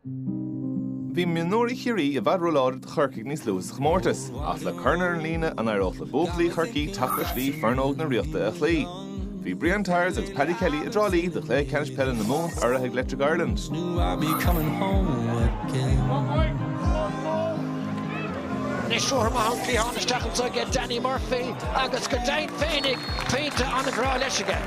Bhí mionúirí Chiarraí i bhfad róláidir do Chorcaigh níos luaithe sa chomórtas, ach le corn ar an líne, an éireodh le buachaillí Chorcaí teacht ar shlí foireann óg na Ríochta a chloí? Bhí Brian Tyers agus Paddy Kelly i dTrá Lí do chluiche ceannais peile na Mumhan urraithe ag Electric Ireland. Anois ruathar maith ón cliathán isteach anso aige Danny Murphy agus go deimhin féinig pointe an-bhreá leis aige.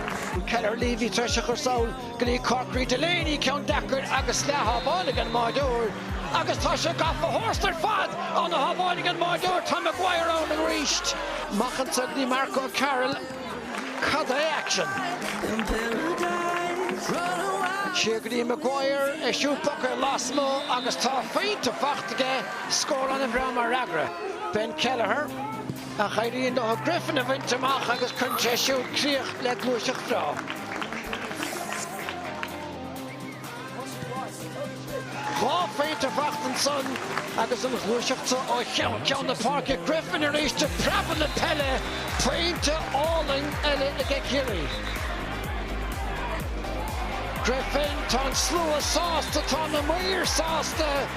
Kelleher Leavy tar eis a chur sall go dtí Corkery Delaney ceann deacair agus leath-shábháil ag an mbáireoir agus tá sé gafa tharstu ar fad an-shábháil ag an mbáireoir tá Maguire ann arís. Amach anseo go dtí Mark O'Carroll, cad é action? Siar go dtí Maguire, é siúd i bpóca lasmu' agus dhá phointe faighte aige, scór an-bhreá mar fhreagra. Ben Kelliher. Ach éiríonn leo Griffin a bhaint amach agus cuireann sé siúd críoch le gluaiseacht bhreá. Dhá phointe faighte ansan agus an ghluaiseacht so ó cheann ceann na páirce. Griffin arís ag preabadh na peile. Pointe álainn eile aige Ciarraí. Griffin, tá an slua sásta, tá na maoir sásta.